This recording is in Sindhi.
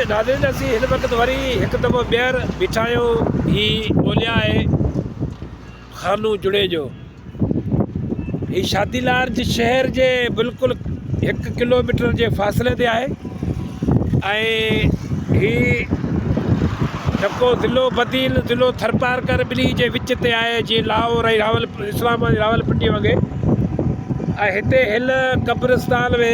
ناظرين اسين هن وقت وري هڪ دفعو ٻيهر بيٺا آهيون هي ٻوليا آهي خانو جڙيجو هي شادي لار جي شهر جي بلڪل هڪ ڪلوميٽر جي فاصلي تي آهي ۽ هي جڪو ضلعو بدين ضلعو ٿرپارڪر ٻنهي جي وچ تي آهي جي لاهور ۽ راول اسلام آباد راولپنڊي وڳي ۽ هتي هن قبرستان ۾